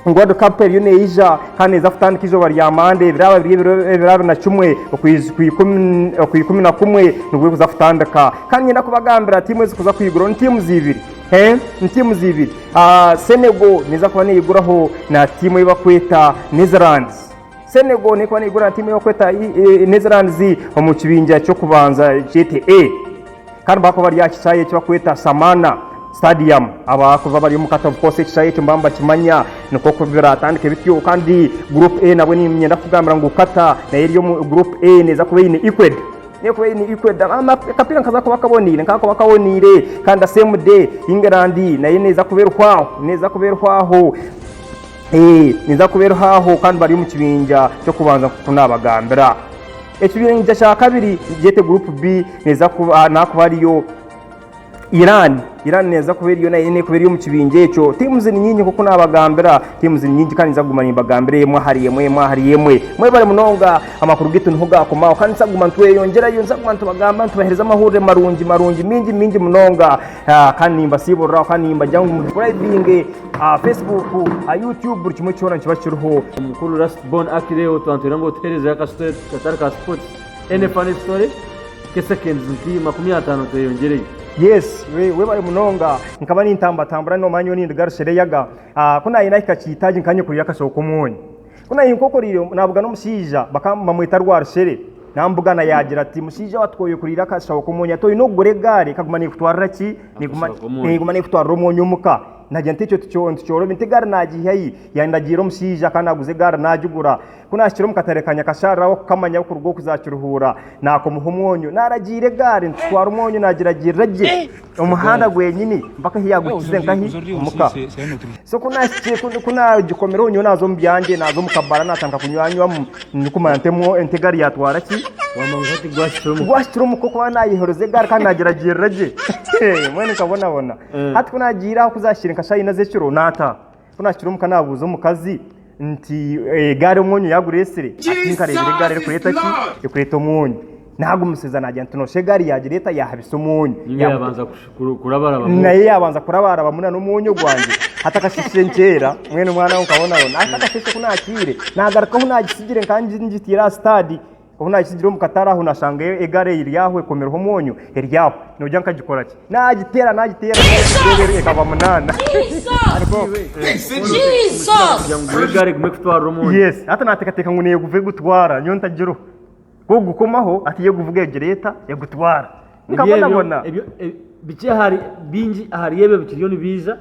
World Cup eriyo neija kandi neeza kutandika eizooba rya Mande, biraaba biri ebiro bira abiri na kimwe okwiz- ku ikumi- oku ikumi na kumwe nibwo erikuza kutandika. Kandi niinyenda kubagambira tiimu ezikuza kwiguraho ni tiimu ziibiri eeh, ni tiimu ziibiri. Ah, Senegal neeza kuba neeyiguraho na tiimu ei barikweta Netherlands. Senegal neekuba neegura na tiimu y'okweta Netherlands omu kibinja ky'okubanza kyete A kandi baakuba bari aha kishaayi eki bakweta Samana Stadium. Abaakuba bari omu katabu koosa ekishaayi ekyo nibaba nibakimanya nikwo ku biraatandike bityo. Kandi Group A nabwo niinyenda kukugambira ngu Qatar nayo eri omu Group A neeza kuba eine Equad neekuba eine Equad. Akapiira nikaza kuba kaboniire nikaza kuba kaboniire kandi the same day England nayo neeza kuba erihwaho neeza kuba erihwaho. Ee, ninza kubeeraho aho kandi bari omu kibinja ky'okubanza nk'oku naabagambira. Ekibinja kya kabiri nikigyete Group B, neeza kuba naakuba hariyo Iran. Iran neeza kuba eriyo nayo neekuba eri omu kibinja ekyo. Teams ni nyingi nk'oku naabagambira, teams ni nyingi kandi ninza kuguma nimbagambira emwe ahari emwe, emwe ahari emwe. Mwebare munonga, amakuru gaitu niho gaakomaho kandi ninza kuguma ntweyongyerayo, ninza kuguma nitubagamba, nitubaheereza amahurire marungi marungi, maingi maingi munonga. Ah, kandi nimbasiiburira kandi nimbagira ngu musubscribinge aha facebook aha youtube buri kimwe kyona nikiba kiriho Mukulu Last Born Aki Leo twantwire ngu otuherezeyo aka story katari ka sports. Any funny story? Ke seconds nki makumi ataano tweyongyereyo. Yes, we- webale munonga. Nkaba nintambatambura noomanya nyowe nindiga Rushereyaga. Ah, ku naayenda ahika Kiitaagi nkaba nyekoreire akashaho k'omwonyo. Ku naahinkokoreire, naabuga n'omushaija bamweta Rwarushere. Naamubugana yaagira ati, Mushaija wa Tukooyo kuriira akashaho k'omwonyo hati oine kugura egaari ekaguma neekutwarira ki? Neeguma neekutwarira omwonyo omuka. Naagira nti, Ekyo nikyorobire, nti egaari naagiiha hi? Yaandagiira omushaija akaba naaguza egaari naagigura. Ku naahikire omu katare ka Nyakasharara ahu okukamanya ahukuruga okuza Kiruhuura, naakomaho omwonyo. Naaragiira egaari nitutwara omwonyo naagiragirira gye. Omuhanda gwenyini mpaka ahi yaaguhikize nkahi? Omu ka. So ku naahikire, ku- ku naagikomireho nyowe naaza omu byangye, naaza omu kabara naatandika kunywanywamu, ndikumanya nti emu- ente egaari yaatwara ki? Wamanya oti gwahikire omu ka. Gwahikire omu ka okuba naayehoroza egaari kandi naagyeragyeera gye. Mbwenu nkabonabona. Hati ku naagiire ahu zaahikire nka shaaha ina z'ekiro, naataaha. Ku naahikire omuka naabuuza omukazi nti, Egaari omwonyo yaagura esire? Ati, Nkareebire egaari erikureeta ki? Erikureeta omwonyo. Naagumisiza naagira nti, Nooshusha egaari yaagireeta yaahabisa omwonyo. Ninga yaabanza kurabarabamu. Nayo yaabanza kurabarabamu nana omwonyo gwangye. Hati akasheeshe nkyeera, mbwenu omwana we nkabonabona. Hati akasheeshe ku naakihaire, naagaruka ahu naagitsigire nkaba ngitaire aha sitaadi. Obu naagitsigire omu katare aho nashangayo egaari eiri aho ekomireho omwonyo eri aho. Nogira nkagikora ki? Naagiteera naagiteera reeba eri ekaba munaana. Kugira ngu nguhe egaari egume kutwarira omwonyo. Yes, hati naateekateeka ngu neeguva egutwara nyowe ntagiroho. Kwogukoma aho hati yo eguvuga egira eta? Egutwara. Nkabonabona. Bikye ahari, bingi ahari ebyo bikiriyo nibiija.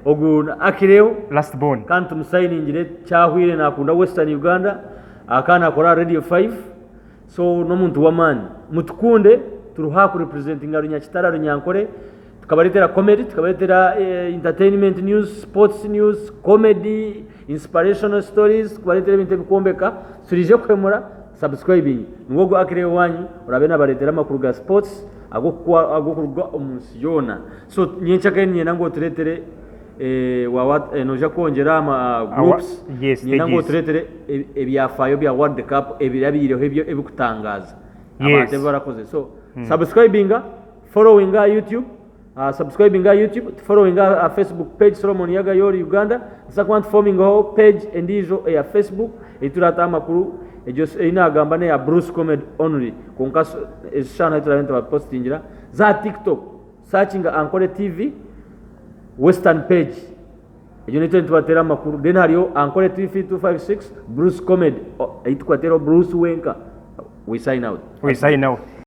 Ogu ni Akireho. Last born. Kandi tumusayiningire kyahwire nakunda Western Uganda akaba nakora aha Radio Five so n'omuntu w'amaani. Mutukunde turiho aha ku representinga Runyakitara, Runyankore tukabareetera comedy, tukabareetera entertainment news, sports news, comedy, inspirational stories, kubareetera ebintu ebikwombeka. Turiije kuhemura. Subscribing nigwo gu Acrew wanyu orabe nabaretera amakuru ga sports agokuruga omunsi yoona so nyenkya kare ninyenda ngu oturetere eeh noija kwongyera aha ma groups ninyenda ngu oturetere ebyafayo bya world cup ebirabiireho ebirikutangaza abantu ebi barakoze so subscribinga followinga aha YouTube. Ah, subscribinga aha YouTube, tufollowinga aha aha Facebook page Solomon Yaga Yori Uganda. Nituza kuba nitufomingaho page endiijo eya Facebook ei turaataho amakuru. Egyo s- ei naagamba n'eya Bruce Comedy only. Kwonka s- ezo shaaha nahi turaabe nitubapositingira. Za aha TikTok, searchinga Ankole TV Western page. Egyo niyo turaabe nitubateera amakuru. Then hariyo Ankole TV 256, Bruce Comedy, o- ei tukubateeraho Bruce wenka. We sign out. We sign out.